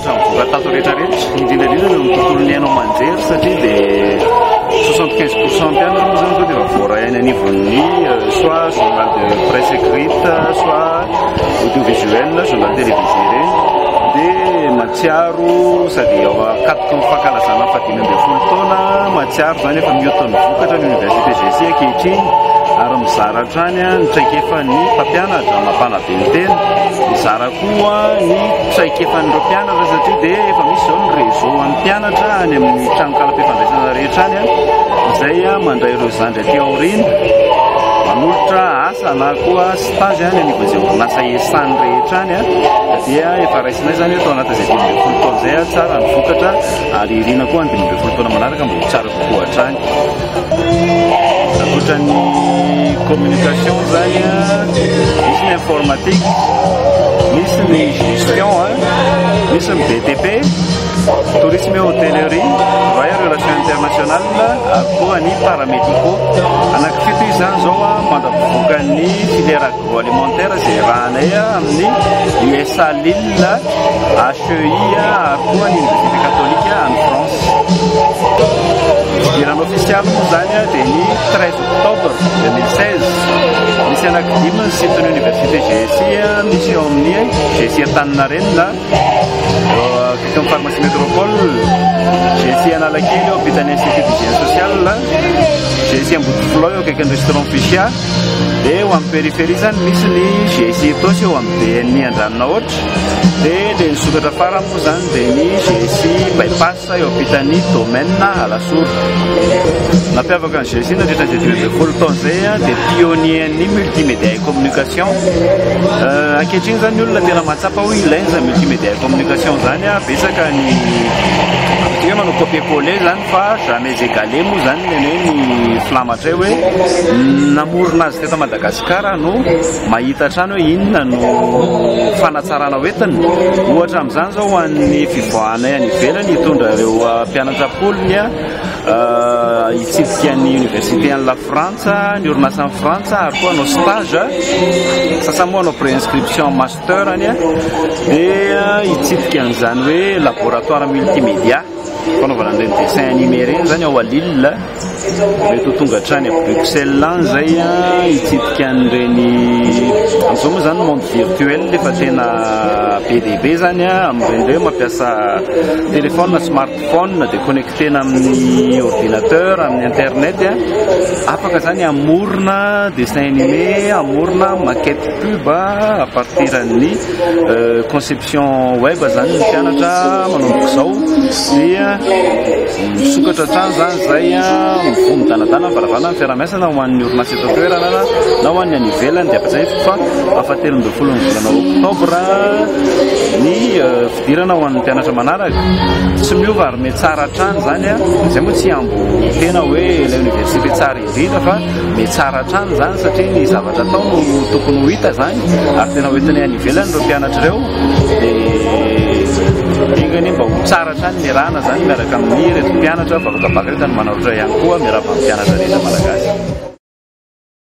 Samy voka tato rehetra rehetra, indrindra indrindra eo amin'ny tontolon'ny haino aman-jery satria dia soixante quinze pour cent ihany aloha izany izao dia efa voaray any anivon'ny euh, soit journal de presse écrite soit audiovisuel journal télévisé ireny dia matsiaro sady ao akatoky ny fankalazana fahadimy ambin'ny folo taona matsiaro izany efa mihoatra ny vokatra ny université GC ankehitriny ary mizara hatrany ny traikefa ny mpampianatra mampanabe ny tena mizara koa ny traikefan'ireo mpianatra satria dia efa misy izao ny réseau an'ny mpianatra any amin'ny tranonkalam-pifandraisana rehetra any izay mandray ireo zandry aty aoriana manolotra asa na koa stage any anivon'izay orinasa ESAN rehetra any dia efa raisinay izany eto anaty izay dimy ambin'ny folo taona izay tsara ny vokatra ary irina koa ny dimy ambin'ny folo taona manaraka mba ho tsara kokoa hatrany Ankoatra ny communication zany misy ny informatique, misy ny gestion, misy ny BTP, tourisme et hôtellerie, travail en relation internationale ary koa ny paramédicaux. Anaky fito izany zao mandra-pivoakan'ny filière. agroalimentaire izay iarahanay amin'ny usa lille, HEI ary koa ny université catholique any France. Fidirana ofisialy moa izany dia ny 13 octobre 2016. Misy anaky dimy ny site ny université GSI misy eo amin'ny GSI Antaninarenina, eo akaikin'ny pharmacie métropole, GSI Analakely eo ampitan'ny institut d'hygiène sociale, GSI Ambodifolo eo akaikin'ny restaurant Fichia, Dia eo amin'ny périphérie izany misy ny GIC Itaosy eo amin'ny BNI Andranonahoatra. Dia ilay nisokatra farany moa izany dia ny GIC Bypass eo ampitan'ny domaine Alasora. Nampiavaka ny GIC nandritra izay dimy ambin'ny folo taona izay dia pionnier-n'ny multimédia et communication. Ankehitriny izany ny olona tena mahatsapa hoe ilaina izany multimédia et communication izany, betsaka ny manao copier-coller izany. Fa jamais égalé moa izany ny anay ny filamatray hoe namorona azy teto Madagasikara no mahita hatrany hoe inona no fanatsarana hoentina. Ohatra amin'izany izao ho an'ny fivoahanay any ivelany hitondra ireo mpianatra am-polony hitsidika ny université any Lafrantsa, ny orinasa any Frantsa ary koa hanao stage, sasany moa hanao préinscription en master any dia hitsidika an'izany hoe laboratoire multimédia. fanaovana an'ireny dessin animé ireny izany ao à Lille, mety ho tonga hatrany à Bruxelles any izay hitsidika an'ireny, amin'izao moa izany monde virtuel efa tena be dia be izany amin'ireny hoe mampiasa téléphone na smartphone dia connecter-na amin'ny ordinateur, amin'ny internet, afaka izany hamorona dessin animé, hamorona maquette pub à partir an'ny conception. Version web zany ny mpianatra manomboka izao dia misokatra hatrany izany izay mivoha midanadana varavarana ny fiaraha-miasana ho an'ny orinasa eto an-toerana na ho an'ny any ivelany dia ampatsiahiviko fa afatelo ambin'ny folo ny volana oktobra ny euh, fidirana ho an'ny mpianatra manaraka tsy miova ary metsara hatrany izany a izay moa tsy hambo tena hoe ilay université tsara Hita fa mitsara hatrany izany satria ny zavatra atao no tokony ho hita izany ary tena hoentinay any ivelany ireo mpianatra ireo dia enganie mba ho tsara hatrany ny rana izany miaraka amin'ny ireto mpianatra vakotabaka rehetra ny manaritra ihany koa miarahaba ny mpianatra rehetra malagasy.